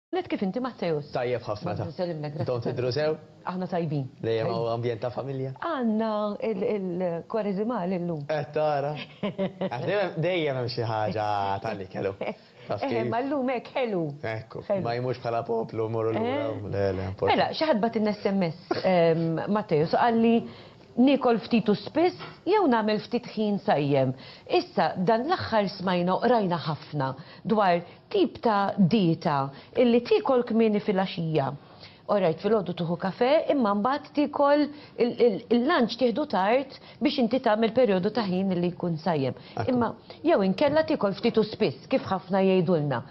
Net kif inti Matteus? Tajjeb ħafna ta. Intom tidhru sew? Aħna tajbin. Dejjem hawn ambjent ta' familja? Għandna il-Kwarezimali llum. Qed tara? Għax dejjem hemm xi ħaġa tal-ikel hu. Taf kif? Imma llum hekk ħelu. Ekku. Ma jmux bħala poplu mmorru lura. Le, le. Mela, xi ħadd bagħtilna SMS Matteus u qalli Niekol ftit u spiss jew nagħmel ftit ħin sajjem. Issa dan l-aħħar smajna u qrajna ħafna dwar tip ta' dieta illi tiekol kmieni filgħaxija. Orajt filgħodu tieħu kafè imma mbagħad tiekol il-lunch tieħdu tard biex inti tagħmel perjodu ta' ħin illi jkun sajjem. Imma jew inkella tiekol ftit u spiss kif ħafna jgħidulna.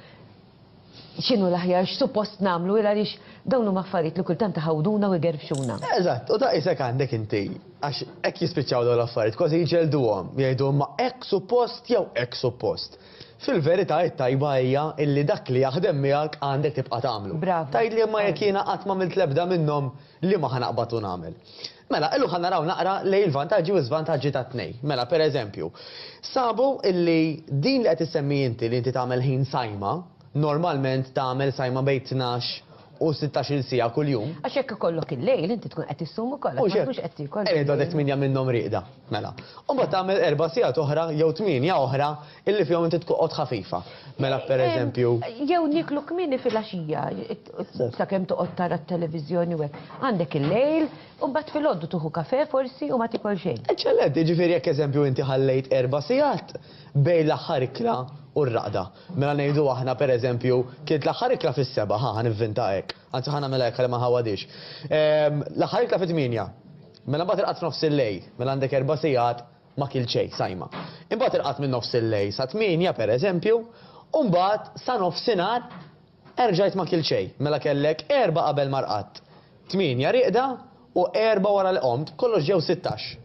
x'inhu l-aħjar, x'suppost nagħmlu il għaliex dawn huma affarijiet li kultant iħawduna u jgerfxuna. Eżatt, u ta' qisek għandek inti, għax hekk jispiċċaw dawn l-affarijiet, kważi jġelduhom, jgħidu imma hekk suppost jew hekk suppost. Fil-verità it-tajba hija illi dak li jaħdem miegħek għandek tibqa' tagħmlu. Bravu. Tgħidli imma jekk jiena qatt m'għamilt l-ebda minnhom, Liema ħa naqbad u nagħmel? Mela, illum ħa naraw naqra lejn il-vantaġġi u l-żvantaġġi tat-tnejn. Mela, per eżempju, sabu illi din li qed issemmi inti li inti tagħmel ħin sajma, normalment tagħmel sajma bejn tnax u sittax-il siegħa kuljum. Għax jekk ikollok il-lejl inti tkun qed issum ukoll għax ma tkunx qed tiekol. Mhux hekk? Qegħed għadek tmienja minnhom rieqda. Mela. U mbagħad tagħmel erba' sigħat oħra jew tmienja oħra Illi fihom inti tqogħod ħafifa. Mela pereżempju. Jew nieklu kmieni filgħaxija, sakemm toqgħod tara t-televiżjoni u hekk. Għandek il-lejl, u mbagħad filgħodu tieħu kafè forsi u ma tiekol xejn. Eċċellenti, jiġifieri jekk eżempju inti ħallejt erba' sigħat bejn l-aħħar ikla u r-raqda. Mela ngħidu aħna pereżempju kilt l-aħħar ikla fis-sebgħa, ħa, ħa nivvinta hekk. Anzi ħa nagħmilha hekk għalli ma nħawwadhiex. L-aħħar ikla fit-tmienja. Mela mbagħad irqadt f'nofs il-lejl, mela għandek erba' sigħat ma kilt xejn sajma. Imbagħad irqadt minn nofs il-lejl sa tmienja, per eżempju, u mbagħad sa nofsinhar erġajt ma kilt xejn, mela kellek erbgħa qabel ma rqadt, tmienja rieqda u erbgħa wara li qomt, kollox ġew sittax.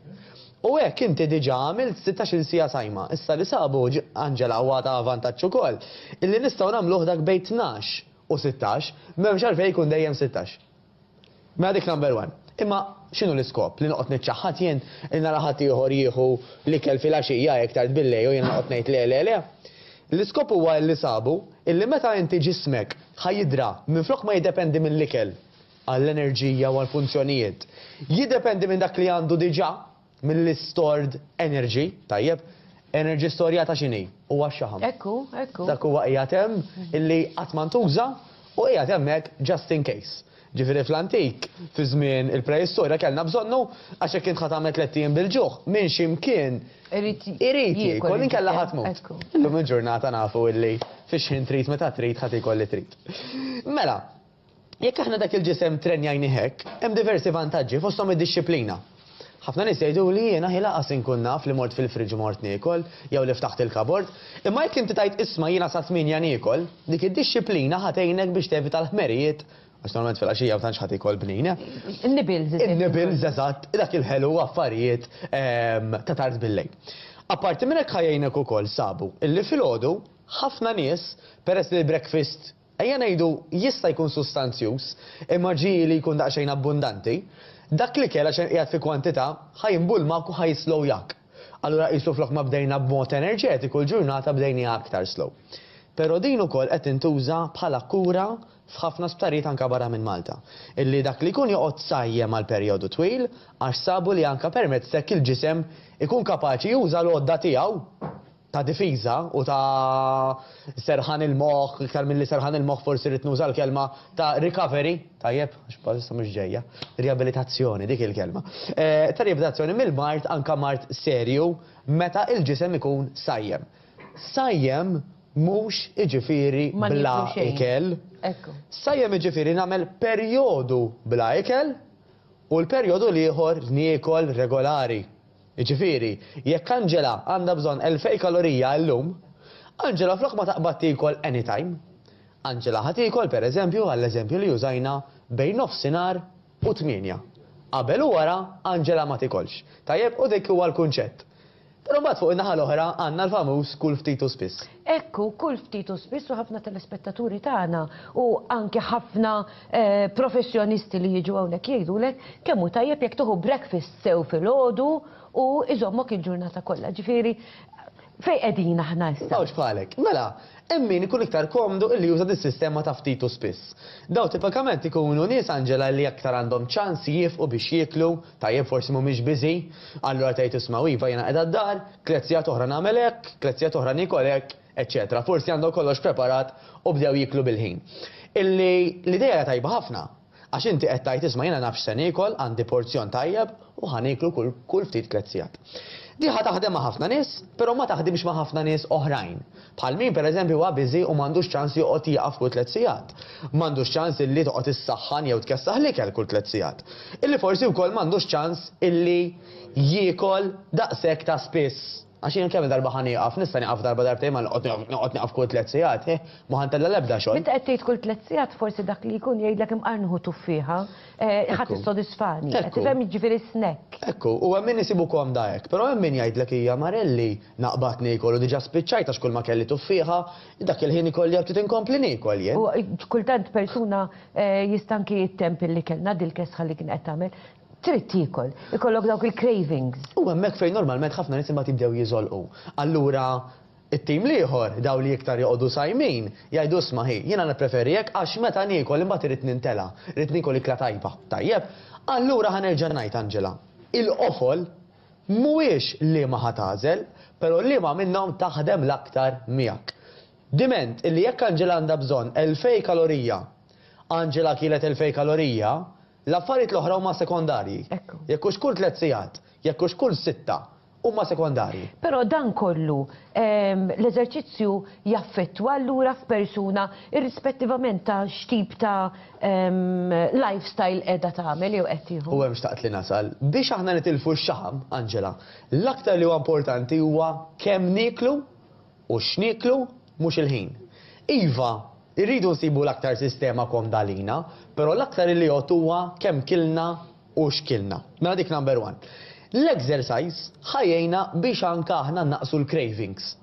U hekk inti diġà għamilt sittax-il siegħa sajma. Issa li sabu, Angela, u għad hawn vantaġġ ukoll, illi nistgħu nagħmluh dak bejn tnax u sittax, m'hemmx għalfejn ikun dejjem sittax. Mela dik number one. Imma x'inhu l-iskop? Li noqgħod niċċaħħad jien? Li nara ħaddieħor jieħu l-ikel filgħaxija hekk tard billejl u jiena noqgħod ngħid le le le? L-iskop huwa illi sabu illi meta inti ġismek ħa jidra minflok ma jiddependi mill-ikel għall-enerġija u għall-funzjonijiet, jiddependi minn dak li għandu diġà. Mill-istored energy, tajjeb, energy storjata x'inhi? Huwa x-xaħam. Hekk hu, hekk hu. Dak huwa qiegħed hemm illi qatt ma ntuża u qiegħed hemmhekk just in case. Ġifieri fl-antik, fi żmien il-preistorja kellna bżonnu għax jekk int ħa tagħmel tlett ijiem bil-ġuħ, minn xi mkien irid jiekol inkella ħa tmut. Illum il-ġurnata nafu illi fix-xħin trid meta trid ħa tiekol li trid. Mela, Jekk aħna dak il-ġisem ttrenjajnih hekk, hemm diversi vantaġġi, fosthom id-dixxiplina. Ħafna nies jgħiduli jiena hi lanqas inkun naf li mort fil-fridge u mort niekol, jew li ftaħt il-kabord. Imma jekk inti tgħid isma' jiena sa tmienja niekol, dik id-dixxiplina ħa tgħinek biex tevita l-ħmerijiet, għax normalment filgħaxija ma tantx ħadd iekol bnin, eh? In-nibbles, eżempju. In-nibbles, eżatt, dak il-ħelu u affarijiet ta' tard bil-lejl. Apparti minn hekk ħa jgħinek ukoll, sabu, illi filgħodu, ħafna nies, peress li l-breakfast Ejja ngħidu, jista' jkun sustanzjuż, imma ġieli jkun daqsxejn abbundanti. Dak l-ikel, għax qed qiegħed fi kwantità, ħa jinbulmak u ħa jislowjak. Allura qisu flok ma bdejna b'mod enerġetiku, l-ġurnata bdejniha aktar slow. Però din ukoll qed tintuża bħala kura f'ħafna sptarijiet anke barra minn Malta, illi dak li jkun joqgħod sajjem għal perjodu twil, għax sabu li anke permezz t'hekk il-ġisem ikun kapaċi juża l-għodda tiegħu. ta' difiża u ta' serħan il-moħħ, iktar milli serħan il-moħħ forsi rrid nuża l-kelma ta' recovery, tajjeb, għax bħalissa mhux ġejja, riabilitazzjoni, dik hi l-kelma, ta' riabilitazzjoni mill-mard anke mard serju meta l-ġisem ikun sajjem. Sajjem mhux iġifieri bla ikel. Sajjem iġifieri nagħmel perjodu bla ikel u l-perjodu l-ieħor niekol regolari. Jiġifieri, jekk Angela għandha bżonn elfej kalorija illum, Angela flok ma taqbad tiekol anytime, Angela ħa tiekol, per eżempju, għall-eżempju li użajna, bejn nofsinhar u tmienja. Qabel u wara, Angela ma tiekolx. Tajjeb? U dik huwa l-kunċett. Però mbagħad fuq in-naħa l-oħra għandna l-famuż kul ftit u spiss. Hekk hu, kull ftit u spiss u ħafna telespettaturi tagħna u anke ħafna professjonisti li jiġu hawnhekk jgħidulek kemm hu tajjeb jekk tieħu breakfast sew filgħodu u jżommok il-ġurnata kollha. Ġifieri, fejn qegħdin aħna issa? Mawx bħalek. Mela, hemm min ikun iktar komdu illi juża dis-sistema ta' ftit u spiss. Dawn tipikament ikunu nies Angela illi aktar għandhom ċans jiefqu biex jieklu, Tajjeb, forsi mhumiex biżi'. Allura tgħid, 'Ismgħu, iva, jiena qiegħda d-dar, tliet sigħat oħra nagħmel hekk, tliet sigħat oħra niekol hekk, eċċetera. Forsi għandhom kollox preparat u bdew jieklu bil-ħin. Illi l-idea hija tajba ħafna. Għax inti qed tgħid, 'Isma', jiena naf x'se niekol, għandi porzjon tajjeb u ħa nieklu kull, kull ftit tliet sigħat. Din ħa taħdem ma' ħafna nies, però ma taħdimx ma' ħafna nies oħrajn. Bħal min pereżempju huwa biżi u m'għandux ċans li joqgħod jieqaf kull tliet sigħat. M'għandux ċans illi toqgħod issaħħan jew tkessaħ l-ikel kull tliet sigħat. Illi forsi wkoll m'għandux ċans illi jiekol daqshekk ta' spiss. Għax jiena kemm-il darba ħa nieqaf? Nista' nieqaf darba darbtejn ma noqgħod nieqaf kull tliet sigħat. Hih, m'hu ħa ntella' l-ebda xogħol. Meta qed tgħid kull tliet sigħat forsi dak li jkun jgħidlek imqar nieħu tuffieħa. Eh, ħadd issodisfani. Qed tifhem jiġifieri snack. Ekku, u hemm min isibu komda hekk, però hemm min jgħidlek hija marelli naqbad niekol u diġà spiċċajt għax kull ma kelli tuffieħa, dak il-ħin ikolli għal ftit inkompli niekol jien. U eh, kultant persuna eh, jistanki jittemp li kellna dil-kesħa li kien qed tagħmel trid tiekol, ikollok dawk il-cravings. U hemmhekk fejn normalment ħafna nies imbagħad jibdew jiżolqu. Allura It-tim l-ieħor, dawk li iktar joqogħdu sajmin, jgħidu isma' hi, jiena nippreferi hekk għax meta niekol imbagħad irid nintela', rrid niekol ikla tajba. Tajjeb, allura ħa nerġa' ngħid Angela, il-qofol mhuwiex liema ħa tagħżel, però liema minnhom taħdem l-aktar miegħek. Diment illi jekk Angela għandha bżonn elfej kalorija, Angela kielet elfej kalorija, l-affarijiet l-oħra huma sekondarji. Jekk hux kull tliet sigħat, jekk hux kull sitta, huma sekondarji. Però dan kollu, l-eżerċizzju jaffettwa allura f'persuna irrispettivament ta' x'tip ta' lifestyle qiegħda tagħmel jew qed tieħu. U hemm xtaqt li nasal. Biex aħna nitilfu x-xaħam, Angela, l-aktar li huwa importanti huwa kemm nieklu u x'nieklu, mhux il-ħin. Iva, irridu nsibu l-aktar sistema komda għalina, però l-aktar li jgħodd huwa kemm kilna u xkilna. Mela dik number one. L-exercise ħa jgħinna biex anka aħna nnaqqsu l-cravings.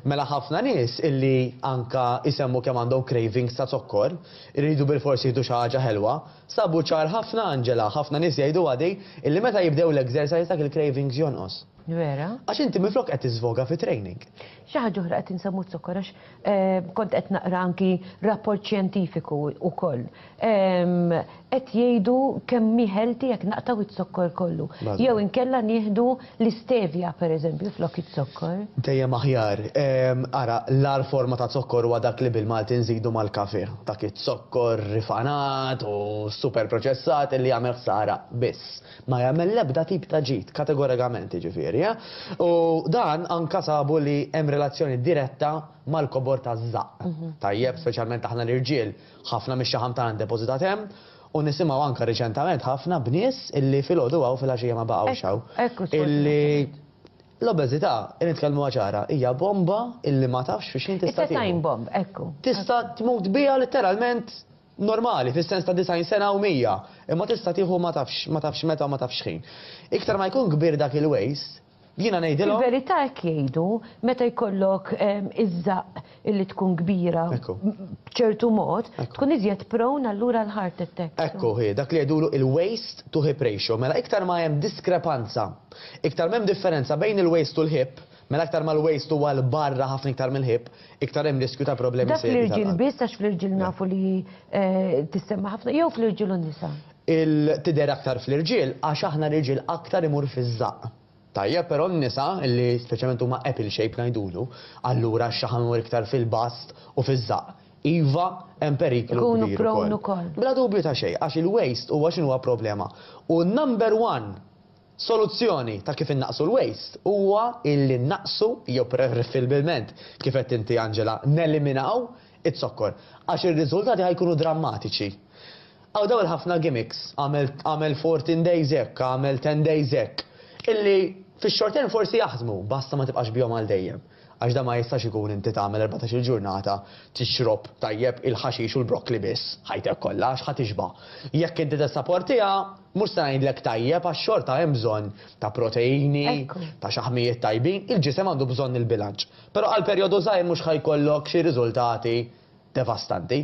Mela ħafna nies illi anka jsemmu kemm għandhom cravings ta' zokkor, iridu bilfors jieħdu xi ħaġa ħelwa, sabu ċar ħafna Angela, ħafna nies jgħiduha di, illi meta jibdew l-exercise dak il-cravings jonqos. Vera? Għax inti minflok qed tiżvoga fi training. Xi ħaġa oħra qed insemmu zokkor għax ehm, kont qed naqra anki rapport xjentifiku wkoll. Ehm, qed jgħidu kemm miħelti jekk naqtaw iz-zokkor kollu. Jew inkella nieħdu l-istevja pereżempju flok iz-zokkor. Dejjem aħjar. Ehm, ara, l-ar forma ta' zokkor huwa dak li bil-Malti nżidu mal-kafe. Dak iz-zokkor rifanat u super proċessat li jagħmel ħsara biss. Ma jagħmel l-ebda tip ta' ġid, kategorikament jiġifieri, eh? U dan anke sabu li hemm relazzjoni diretta mal-kobor taż-żaqq. Tajjeb, speċjalment aħna l-irġiel, ħafna mix-xaħam tagħna ddepożitat hemm, u nisimgħu anke riċentament ħafna b'nies illi filgħodu hawn filgħaxija ma baqgħux hawn. Hekk hu, illi l-obeżità, nitkellmuha ċara, hija bomba illi ma tafx fi x'ħin tista' tieħu. It's a time bomb, hekk hu. Tista' tmut biha litteralment normali, fis-sens ta' disgħin sena u mija, imma tista' tieħu ma tafx, ma tafx meta u ma tafx x'ħin. Iktar ma jkun kbir dak il-waste, jiena ngħidilhom. Fil-verità hekk jgħidu, meta jkollok iż-żaqq illi tkun kbira b'ċertu mod, tkun iżjed prone allura għal heart attacks. Ekku hi, dak li jgħidulu il-waste to hip ratio. Mela iktar ma hemm diskrepanza, iktar m'hemm differenza bejn il-waste u l-hip, Mela aktar ma l-waste huwa 'l barra ħafna iktar mill-ħipp, iktar hemm riskju ta' problemi serji tal-qalb. Dak fl-irġiel biss għax fl-irġiel nafu li tissemma' ħafna jew fl-irġiel u n-nisa? Tidher aktar fl-irġiel għax aħna r-riġiel aktar imur fiż-żaqq. Tajjeb, però n-nisa li speċjalment huma apple shape ngħidulu, allura x-xaħam imur iktar fil-bast u fiż-żaqq, iva hemm periklu kbir ukoll. Ikunu prone ukoll. Bla dubju ta' xejn, għax il-waste huwa x'inhuwa problema u number one Soluzzjoni ta' kif innaqqsu l-waste huwa illi nnaqqsu jew preferibilment, kif għedt inti Angela, neliminaw iz-zokkor, għax ir-riżultati ħa jkunu drammatiċi. Hawn dawn il-ħafna gimmicks, agħmel agħmel fourteen days hekk, agħmel ten days hekk, illi fix-short term forsi jaħdmu, basta ma tibqax bihom għal dejjem. Għax dan ma jistax ikun inti tagħmel erbatax-il ġurnata tixrob tajjeb il-ħaxix u l-brokkli biss ħajtek kollha għax ħa tixba'. Jekk inti tessaportiha, mhux se ngħidlek tajjeb għax xorta hemm bżonn ta' proteini, ta' xaħmijiet tajbin, il-ġisem għandu bżonn il-bilanċ. Però għal perjodu żgħir mhux ħa jkollok xi riżultati devastanti.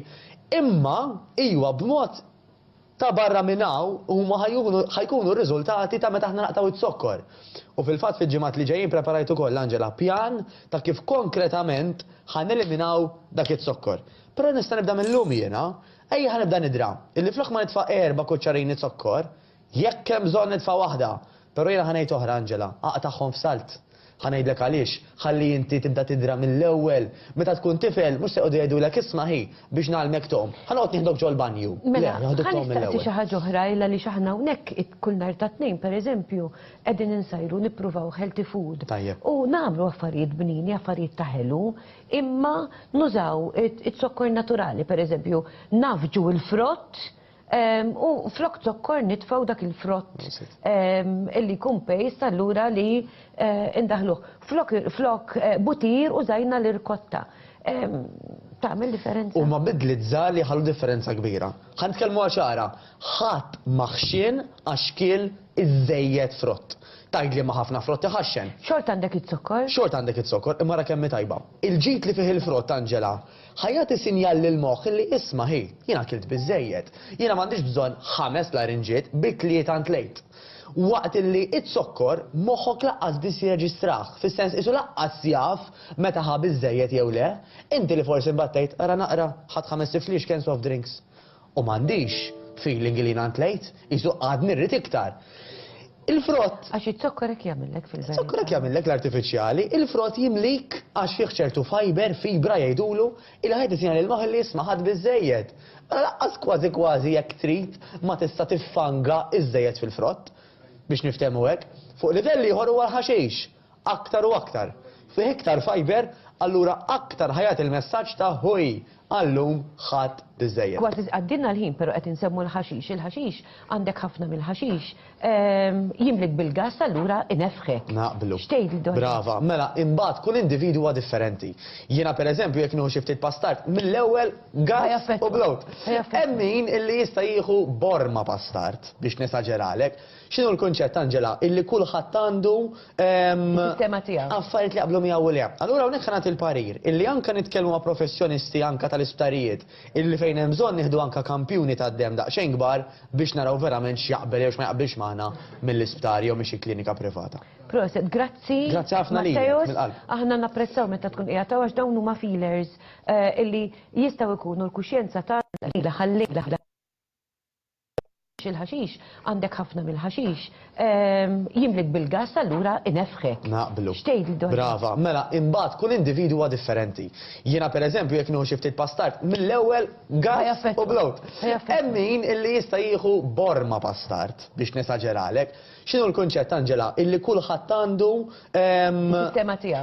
Imma iwa b'mod Ta' barra minn hawn, huma ħa jkunu ħa jkunu r-riżultati ta' meta aħna naqtgħu iz-zokkor. U fil-fatt fil-ġimgħat li ġejjin preparajt ukoll, Angela, pjan ta' kif konkretament ħa neliminaw dak iz-zokkor. Però nista' nibda mil-lum jiena. Ejja ħa nibda nidra, illi flok ma nitfa' erba' kuċċarini zokkor, jekk hemm bżonn nitfa' waħda, però jiena ħa ngħid oħra, Angela, aqtagħhom f'salt. Ħa ngħidlek għaliex, ħalli inti tibda tidra mill-ewwel. Meta tkun tifel, mhux se jqogħdu jgħidulek isma' hi, biex ngħallmek tgħum, ħa noqgħod nieħdok ġol-banju. Le, joħduk tgħum mill-ewwel. Mela, ħa nistaqsi xi ħaġa oħra, il għaliex aħna hawnhekk kull nhar tat-Tnejn, pereżempju, qegħdin insajru nippruvaw healthy food. Tajjeb. U nagħmlu affarijiet bnieni, affarijiet ta' ħelu, imma nużaw iz-zokkor naturali, pereżempju, nagħfġu l-frott, U flok zokkor nitfaw dak il-frott illi jkun pejst allura li eh, indaħluh. Flok, flok eh, butir u zajna l-irkotta. Tagħmel differenza. U ma bidlit żgħar li ħallu differenza kbira. Ħan tkellmu għaxara, ħadd maħxin għax kiel iżejjed frott. Tajd li ma ħafna frott iħaxxen. Xort għandek it-zokkor? Xort għandek it-zokkor, imma ra kemm tajba. Il-ġid li fih il-frott, Angela, Ħa jagħti sinjal lill-moħħ li isma' hi, jien akilt biżżejjed. Jiena m'għandix bżonn ħames larinġiet, bi tlieta ntlejt. Waqt li izzokkor, moħħok laqqas biss jirreġistrah, fis-sens qisu laqqas jaf meta ħa biżżejjed jew le. Inti li forsi mbattejt, ara naqra, ħadt ħames tifliex cans of drinks. U m'għandix feeling li jiena ntlejt, qisu għadni rrid iktar. Il-frott. Għax iz-zokkor hekk jagħmillek fil-verità. Iz-zokkor hekk jagħmillek l-artifiċjali, il-frott jimlik għax fih ċertu fiber, fibra jgħidulu, ilha hi titina lil moħħ li isma' ħadt biżżejjed. Mela lanqas kważi kważi jekk trid ma tista' tiffanga iżżejjed fil-frott, biex niftehmu hekk. Fuq livell ieħor huwa l-ħaxix. aktar u aktar, fih iktar fajber, allura aktar ħa jagħti l-messaġġ ta' ħuj, għal-lum ħadt biżżejjed. Kważi tqaddilna l-ħin pero qed insemmu l-ħaxix, il-ħaxix, għandek ħafna mill-ħaxix, jimlik bil-gass allura ineffħek. Naqblu. X'tgħid Donna? Brava. Mela, imbagħad kull individwu huwa differenti. Jiena per eżempju jekk nieħu xi ftit pastard, mill-ewwel gass u bloat. Hemm min illi jista' jieħu borma pastard, biex nesaġeralek. X'inhu l-kunċett, Angela? Illi kulħadd għandu, ehm, Is-sistema tiegħu. affarijiet li jaqblu miegħu u le. Allura hawnhekk ħa nagħti l-parir illi anke nitkellmu ma' professjonisti anke tal-isptarijiet illi fejn hemm bżonn nieħdu anke kampjuni tad-demm daqsxejn kbar biex naraw verament x'jaqbel jew x'ma jaqbilx magħna mill-isptar jew minn xi klinika privata. Proset, grazzi. Grazzi ħafna lilek, Matteos. mill-qalb. Aħna napprezzaw meta tkun qiegħed hawn għax dawn huma feelers, eh, illi jistgħu jkunu l-kuxjenza tagħna lejla ħal-lejla. il-ħaxix, għandek ħafna mill-ħaxix, jimlik bil-gass allura inefħek. Naqblu. X'tgħidli dwar dan? Brava. Mela, imbagħad kull individwu huwa differenti. Jiena pereżempju jekk nieħu xi ftit pastard, mill-ewwel gass u bloat. Hemm min illi jista' jieħu borma pastard, biex nesaġeralek. X'inhu l-kunċett, Angela, illi kulħadd għandu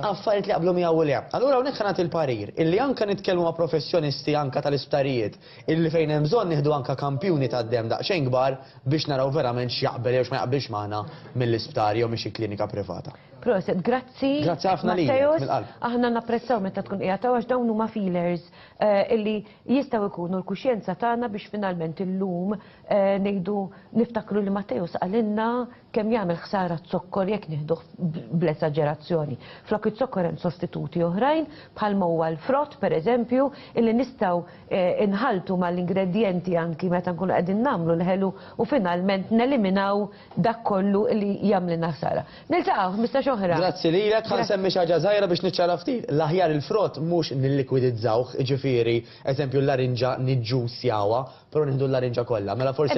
affarijiet li jaqblu miegħu u le. Allura hawnhekk ħa nagħti l-parir illi anke nitkellmu ma' professjonisti anke tal-isptarijiet, Illi fejn hemm bżonn nieħdu anke kampjuni tad-demm daqsxejn kbar biex naraw verament x'jaqbel jew x'ma jaqbilx magħna mill-isptar jew minn xi klinika privata. Proset, grazzi. Grazzi ħafna lilek mill-qalb. Aħna napprezzaw meta tkun qiegħed hawn għax dawn huma feelers illi jistgħu jkunu l-kuxjenza tagħna biex finalment illum ngħidu niftakru li Matteus qalilna Kemm jagħmel ħsara z-zokkor jekk nieħduh bl-esaġerazzjoni. Flok iz-zokkor hemm sostituti oħrajn, bħalma huwa l-frott, pereżempju, illi nistgħu nħalltu mal-ingredjenti anki meta nkunu qegħdin nagħmlu l-ħelu u finalment neliminaw dak kollu li jagħmlilna ħsara. Niltaqgħu ħmistax oħra. Grazzi lilek. Ħa nsemmi xi ħaġa żgħira biex niċċara ftit. L-aħjar il-frott mhux nillikwidizzawh, jiġifieri, eżempju, l-larinġa niġġussjawha, però nieħdu l-larinġa kollha. Mela forsi